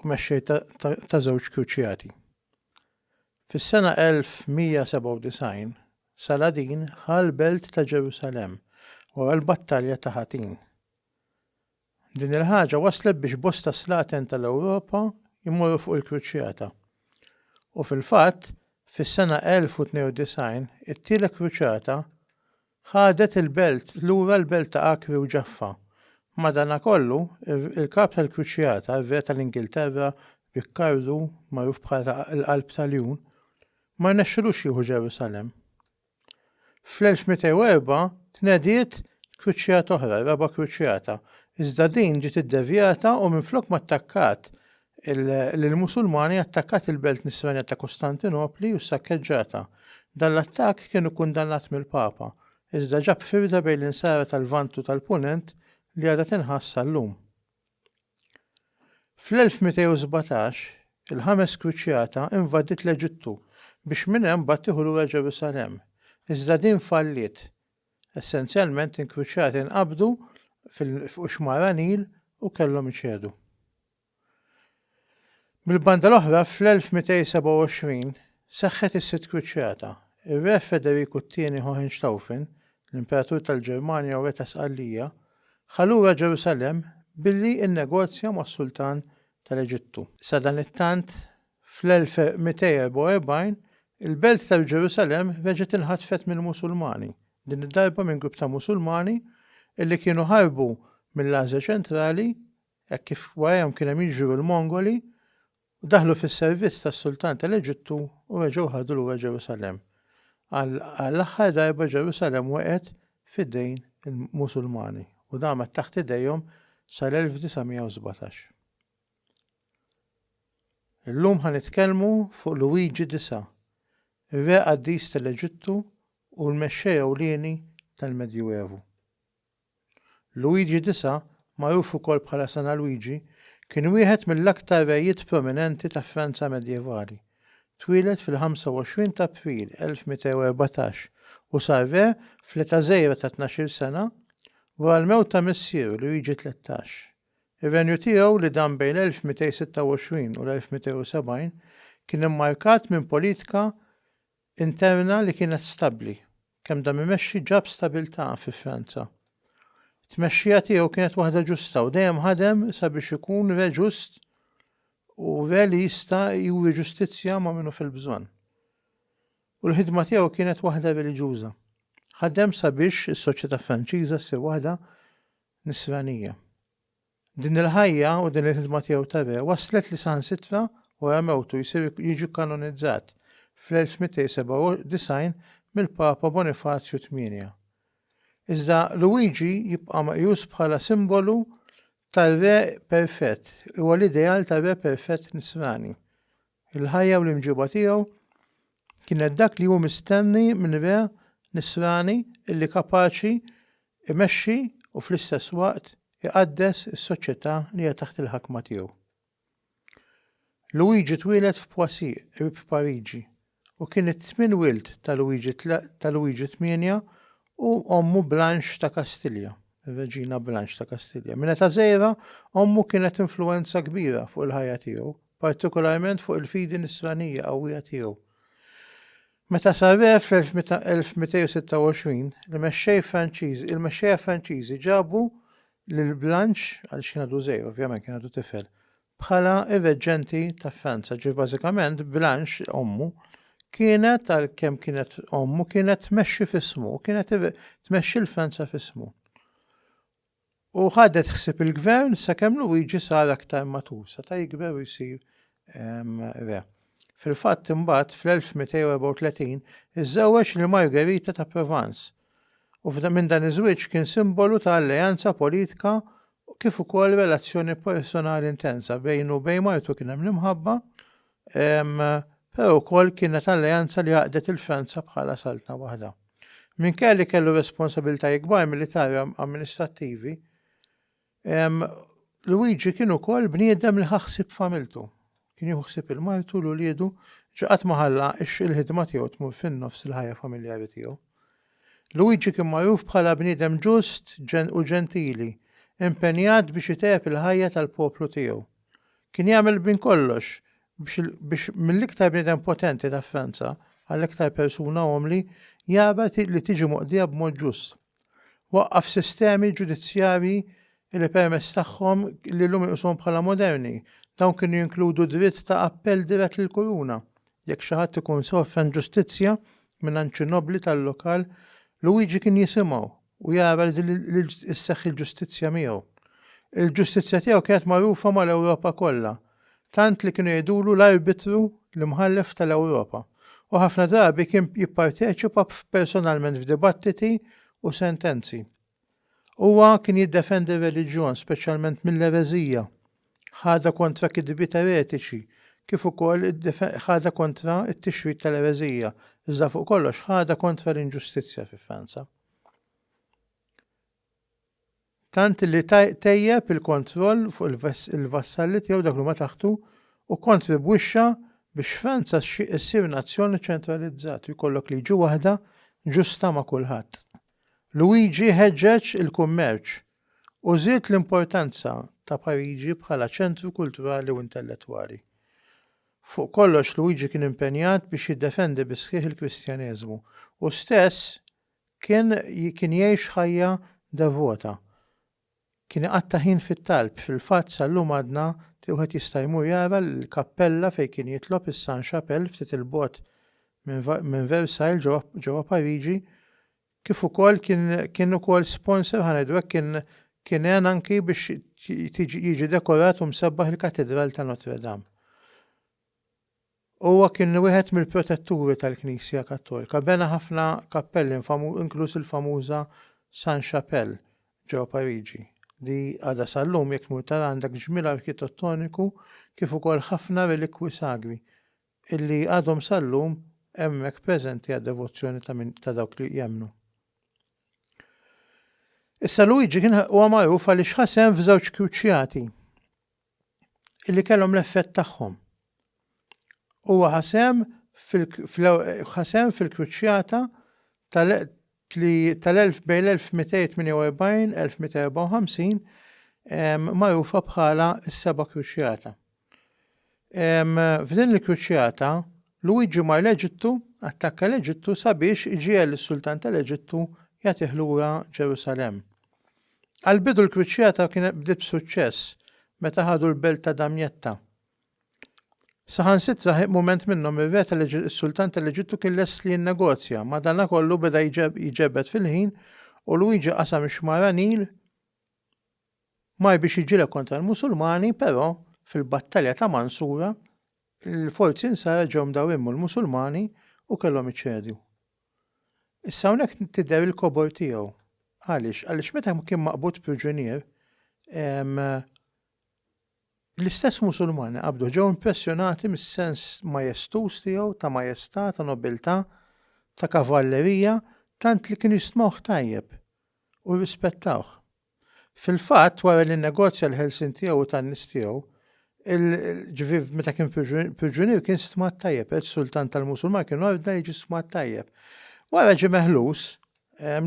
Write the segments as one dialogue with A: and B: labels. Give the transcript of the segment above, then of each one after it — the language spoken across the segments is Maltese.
A: u mexxej ta' żewġ kruċjati. Fis-sena 1197, Saladin ħa l-belt ta' Ġerusalemm wara l-battalja ta' Hattin. Din il-ħaġa wasslet biex bosta slaten tal-Ewropa jmorru fuq il-kruċjata, u fil-fatt, fis-sena 1092 it-Tielet Kruċjata Ħadet il-belt lura l-belt ta' Acre u Jaffa. Madanakollu, il-Kap tal-Kruċjata, ir-Re tal-Ingilterra, Rikkardu, magħruf bħala l-Qalb ta' Ljun, ma rnexxilux jieħu Ġerusalemm. Fl-1204 tnediet kruċjata oħra, ir-Raba' Kruċjata, iżda din ġiet iddevjata u minflok ma attakkat lill-Musulmani attakkat il-belt nisranija ta' Kostantinopli u ssakkeġġatha. Dan l-attakk kien ikkundannat mill-Papa, iżda ġab firda bejn l-Insara tal-Lvant u tal-Punent li għadha tinħass sal-lum. Fl-1217, il-Ħames Kruċjata invadiet l-Eġittu biex minn hemm mbagħad tieħu lura Ġerusalemm, iżda din falliet. Essenzjalment, inkruċjati nqabdu f'Qxmara Nil u kellhom iċedu. Mill-banda l-oħra, fl-1227 seħħet is-Sitt Kruċjata. Ir-Re Federiku t-Tieni Hohenstaufen, l-Imperatur tal-Ġermanja u Re ta' Sqallija, ħa lura Ġerusalemm billi nnegozja mas-Sultan tal-Eġittu. Sadanittant, fl-1244, il-belt ta' Ġerusalemm reġgħet inħatfet mill-Musulmani, din id-darba minn grupp ta' Musulmani li kienu ħarbu mill-Asja Ċentrali Hekk kif warajhom kien hemm jiġru l-Mongoli, daħlu fis-servizz tas-sultan tal-Eġittu u reġgħu ħadu lura Ġerusalemm. Għall-aħħar darba Ġerusalemm waqgħet f'idejn il-Musulmani u damet taħt idejhom sal-1917. Illum ħa nitkellmu fuq Luigi Disa, ir-re qaddis tal-Eġittu u l-mexxej ewlieni tal-Medjuevu. Luigi Disa, magħruf ukoll bħala Sena Luigi, kien wieħed mill-aktar rejiet prominenti ta' Franza medjevali. Twieled fil-25 t'April 1214 u sar re fl-età żgħira ta' tnax-il sena, wara l-mewt ta' missieru Luigi Tlettax. Ir-renju tiegħu, li dam bejn l-1226 u l-1270, kien immarkat minn politika interna li kienet stabbli. Kemm dam imexxi ġab stabiltà fi Franza. It-tmexxija tiegħu kienet waħda ġusta u dejjem ħadem sabiex ikun re ġust u re li jista' juri ġustizzja ma' min hu fil-bżonn. U l-ħidma tiegħu kienet waħda reliġjuża. Ħadem sabiex is-soċjetà Franċiża ssir waħda Nisranija. Din il-ħajja u din il-ħidma tiegħu ta' re wasslet li saħansitra wara mewtu jsir jiġi kkanonizzat fl-1297 mill-Papa Bonifazju tmienja. Iżda Luigi jibqa' meqjus bħala simbolu tar-re perfett, huwa l-ideal tar-re perfett Nisrani. Il-ħajja u l-imġiba tiegħu kienet dak li hu mistenni minn re Nisrani illi kapaċi imexxi u fl-istess waqt iqaddes is-soċjetà li hija taħt il-ħakma tiegħu. Luigi twieled f'Poissy, qrib Pariġi, u kien it-tmien wild ta' Luigi ta' Luigi Tmienja u ommu Blanche ta' Kastilja, ir-Reġina Blanche ta' Kastilja. Minn età żgħira, ommu kienet influwenza kbira fuq il-ħajja tiegħu partikolarment fuq il-fidi nisranija qawwija tiegħu. Meta sar re fl-1226, il-mexxej Franċiżi, il-mexxejja Franċiżi ġabu lil Blanche, għal xi għadu żgħir ovvjament kien għadu tifel, bħala ir-reġġenti ta' Franza. Ġifieri bażikament Blanche ommu kienet għal kemm kienet ommu kienet tmexxi f'ismu, kienet tmexxi l-Franza f'ismu. U ħadet ħsieb il-gvern sakemm Luigi sar aktar matur, seta' jikber u jsir re. Fil-fatt imbagħad fl-1234 iżżewweġ lil Margherita ta' Provence, u minn dan iż-żwieġ kien simbolu ta' alleanza politika kif ukoll relazzjoni personali intensa bejnu u bejn martu kien hemm l-imħabba però wkoll kienet alleanza li għaqdet il-Franza bħala saltna waħda. Minkejja li kellu responsabiltajiet kbar militari amministrattivi, Luigi kien ukoll bniedem li ħaħsib familtu. Kien juħsib il-martu l uliedu ġaqat maħalla ix il-ħidma tiegħu tmur fin-nofs il-ħajja familjari tiegħu. Luigi kien magħruf bħala bniedem ġust u ġentili, impenjat biex itep il-ħajja tal-poplu tiegħu. Kien jagħmel minn kollox biex mill-iktar bniedem potenti ta' Franza għall-iktar persuna umli jara li tiġi moqdija b'mod ġust. Waqqaf sistemi ġudizzjarji li permezz tagħhom li llum inqisuhom bħala moderni. Dawn kienu jinkludu dritt ta' appell dirett lill-kuruna jekk xi ħadd ikun sofra inġustizzja mingħand xi nobbli tal-lokal. Luigi kien jisimgħu u jara li sseħħ il-ġustizzja miegħu. Il-ġustizzja tiegħu kienet magħrufa mal-Ewropa kollha, tant li kienu jgħidulu l-arbitru, l-imħallef tal-Ewropa, u ħafna drabi kien jipparteċipa personalment f'dibattiti u sentenzi. Huwa kien jiddefendi r-reliġjon, speċjalment mill-ereżija. ħadha kontra kidbiet eretiċi, kif ukoll ħadha kontra t-tixrid tal-ereżija, iżda fuq kollox ħadha kontra l-inġustizzja fi Franza. Tant li tejjeb il-kontroll fuq il-vassalli tiegħu dak li ma taħtu u kontribwixxa biex Franza ssir nazzjoni ċentralizzat u jkollok liġi waħda ġusta ma' kulħadd. Luigi ħeġġeġ il-kummerċ u żied l-importanza ta' Pariġi bħala ċentru kulturali u intellettwali. Fuq kollox Luigi kien impenjat biex jiddefendi bis-sħiħ il-Kristjaneżmu. Hu stess kien kien jgħix ħajja devota. Kien iqatta' ħin fit-talb, fil-fatt sal-lum għadna wieħed jista' jmur jara l-kappella fejn kien jitlob is-Sainte-Chapelle ftit 'il bogħod minn Versailles ġewwa Pariġi kif ukoll kien kien ukoll sponsor ħa ngħidu hekk kien kien għen anki biex tiġi jiġi dekorat u msebbaħ il-Katidral ta' Notre Dame. Huwa kien wieħed mill-protetturi tal-Knisja Kattolika, bena ħafna kappelli infamu- inkluż il-famuża San Chapelle ġewwa Pariġi, li għadha sal-lum jekk tmur tara għandek ġmiel arkitettoniku kif ukoll ħafna relikwi sagri illi għadhom sal-lum hemmhekk preżenti għad-devozzjoni ta' min ta' dawk li jemmnu. Issa Luigi kien huwa magħruf għaliex ħasem f'żewġ kruċjati illi kellhom l-effett tagħhom. Huwa ħasem fil-ħasem fil-kruċjata li tal-bejn l-1248-1254 magħrufa bħala s-Seba' Kruċjata. F'din il-kruċjata, Luwiġi mar l-Eġittu, attakka l-Eġittu sabiex iġiegħel lis-Sultan tal-Eġittu jagħtih lura Ġerusalemm. Għall-bidu l-kruċjata kienet bdiet b'suċċess meta ħadu l-belt ta' Damjetta. Saħansitra ħieq mument minnhom ir-re tal-Eġittu, is-sultan tal-Eġittu kien lest li jinnegozja, madankollu beda jġebed fil-ħin u Luigi qasam ix-xmara Nil, mar biex jiġġieled kontra l-Musulmani, però fil-battalja ta' Mansura, il-forzi Nsara ġew mdawrin mal-Musulmani u kellhom iċedu. Issa hawnhekk tidher il-kobor tiegħu. Għaliex? Għaliex meta kien maqbud priġunier, L-istess Musulmani qabdu ġew impressjonati mis-sens majestuż tiegħu ta' majestà, ta' nobiltà, ta' kavallerija tant li kienu jistmgħuh tajjeb u jirrispettawh. Fil-fatt, wara li nnegozja l-ħelsien tiegħu u tan-nies tiegħu, il, ġifieri meta kien priġunier kien stmat tajjeb, is-sultan tal-Musulmani kien ordna li jiġi stmat tajjeb. Wara ġie meħlus,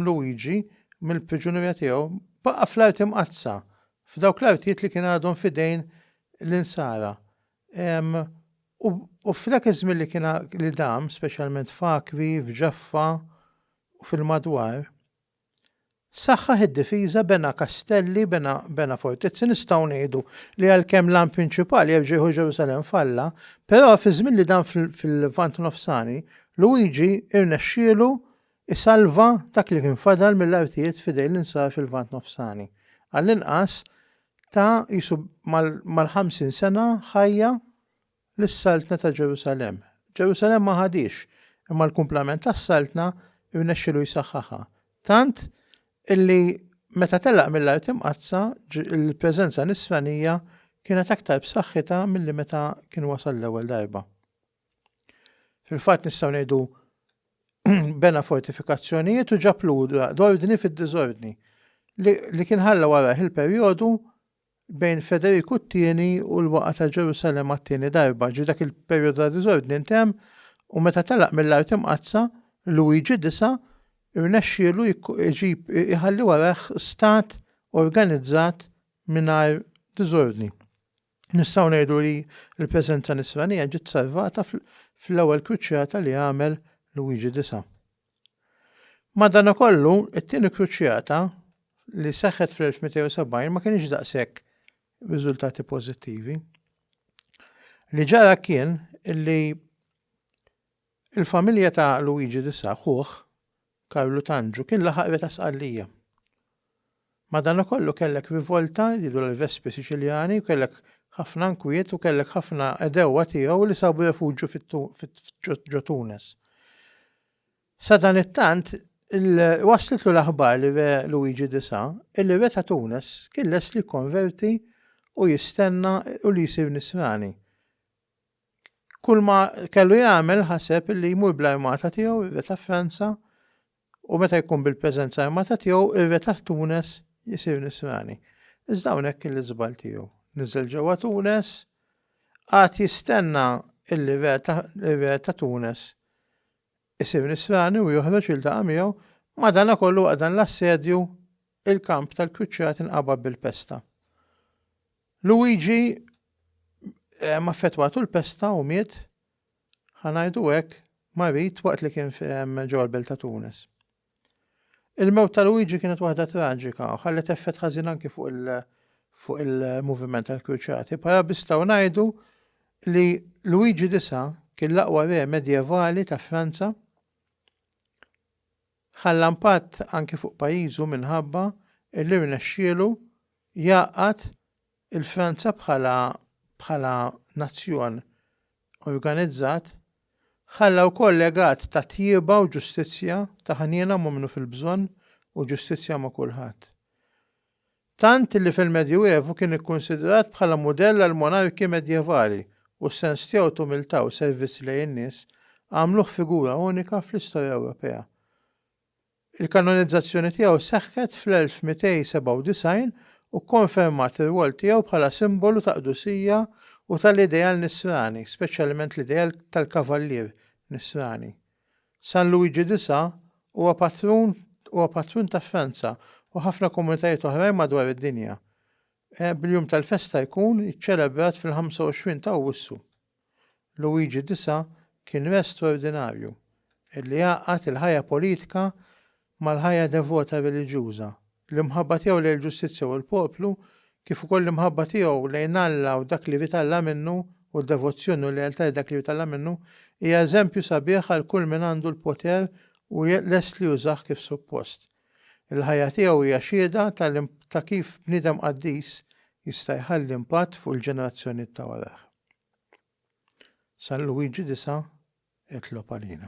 A: Luigi, mill-priġunerija tiegħu, baqa' fl-Art Imqaddsa F'dawk l-artijiet li kien għadhom f'idejn l-Insara. U f'dak iż-żmien li kien li dam, speċjalment f'Akvi, f'Ġaffa u fil-madwar, saħħaħ id-difiża, bena kastelli, bena bena fortizzi, nistgħu ngħidu li għalkemm l-għan prinċipali jerġa' jieħu Ġerusalemm f'Alla, però fiż-żmien li dam fil-Lvant Nofsani, Luigi rnexxielu Isalva dak li kien fadal mill-artijiet f'idejn l-insara fil-Lvant Nofsani. Għall-inqas, ta qisu mal-ħamsin sena ħajja lis-Saltna ta' Ġerusalemm. Ġerusalemm ma ħadhiex, imma l-kumplament tas-Saltna rnexxielu jsaħħaħha, tant illi meta telaq mill-Art Imqaddsa l-preżenza Nisranija kienet aktar b'saħħitha milli meta kien wasal l-ewwel darba. Fil-fatt nistgħu ngħidu bena fortifikazzjonijiet u ġab lura l-ordni fid-diżordni li kien ħalla warah il-perjodu bejn Federiku t-tieni u l-waqa ta' Ġerusalem għat-tieni darba, ġi dak il-perjodu ta' diżordni intemm u meta telaq mill-art imqaddsa Luigi disa' rnexxielu jġib iħalli warah stat organizzat mingħajr diżordni. Nistgħu ngħidu li l-preżenza nisranija ġiet salvata fl-ewwel kruċjata li għamel Luigi Disa. Madanakollu, it-tieni kruċjata li seħħet fl-1270 ma kienx daqshekk riżultati pożittivi. Li ġara kien li Il-familja ta' Luigi D'Sa, ħuh, Karlu Tanġu, kien laħaq Re ta' Sqallija. Madanakollu kellek rivolta, jgħidu l-Vespi Siċiljani, u kellek ħafna nkwiet u kellek ħafna għedewwa tiegħu li sabu refuġju ġo Tunes. Sadanittant, waslitlu l-aħbar li Re Luigi D'Sa illi Re ta' Tunes kien lest li jikkonverti u jistenna u li jsir Nisrani. Kulma kellu jagħmel ħaseb illi jmur bl-armata tiegħu ir-re Franza u meta jkun bil-preżenza armata tiegħu ir-re ta' Tunes isir Nisrani. Iżda hawnhekk kien l-iżball tiegħu. Niżel ġewwa Tunes, qagħad jistenna illi r-re ta' Tunes isir Nisrani u joħroġ jiltaqa' miegħu, madanakollu waqt dan l-assedju il-kamp tal-kruċjati nqabad bil-pesta. Luigi ma affettwatu l-pesta u miet, ħa ngħidu hekk, marid waqt li kien ġewwa l-belt ta' Tunis. Il-mewt ta' Luigi kienet waħda traġika u ħallet effett ħażin anki fuq il-moviment tal-Kruċati. Bħala nistgħu ngħidu li Luigi Disa' kien l-aqwa re medjevali ta' Franza. Ħalla impatt anki fuq pajjiżu minħabba li rnexxielu jgħaqqad il-Franza bħala bħala nazzjon organizzat. Ħalla wkoll legat ta' tjieba u ġustizzja, ta' ħniena ma' minnu fil-bżonn u ġustizzja ma' kulħadd. Tant li fil-Medjuevu kien ikkunsidrat bħala mudell għall-monarki medjevali u s-sens tiegħu t'umiltà u servizz lejn in-nies għamluh figura unika fl-istorja Ewropea. Il-kanonizzazzjoni tiegħu seħħet fl-1297 u kkonfermat ir-rwol tiegħu bħala simbolu ta' qdusija u tal-ideal nisrani, speċjalment l-ideal tal-kavallier nisrani. San Luigi di Sa huwa patrun huwa patrun ta' Franza u ħafna komunitajiet oħrajn madwar id-dinja, bil-jum tal-festa jkun iċċelebrat fil-25 ta' Awwissu. Luigi di Sa kien re straordinarju, li għaqqad il-ħajja politika mal-ħajja devota reliġjuża, l-imħabba tiegħu lejn il-ġustizzja u l-poplu, kif ukoll l-imħabba tiegħu lejn Alla u dak li jvitalla minnu u d-devozzjoni u l-lealtà lil dak li jvitalla minnu, hija eżempju sabiħ għal kull min għandu l-poter u lest li jużah kif suppost. Il-ħajja tiegħu hija xhieda ta' kif bniedem qaddis jista' jħalli impatt fuq il-ġenerazzjonijiet ta' warajh. San Luigi 9, Itlob għalina.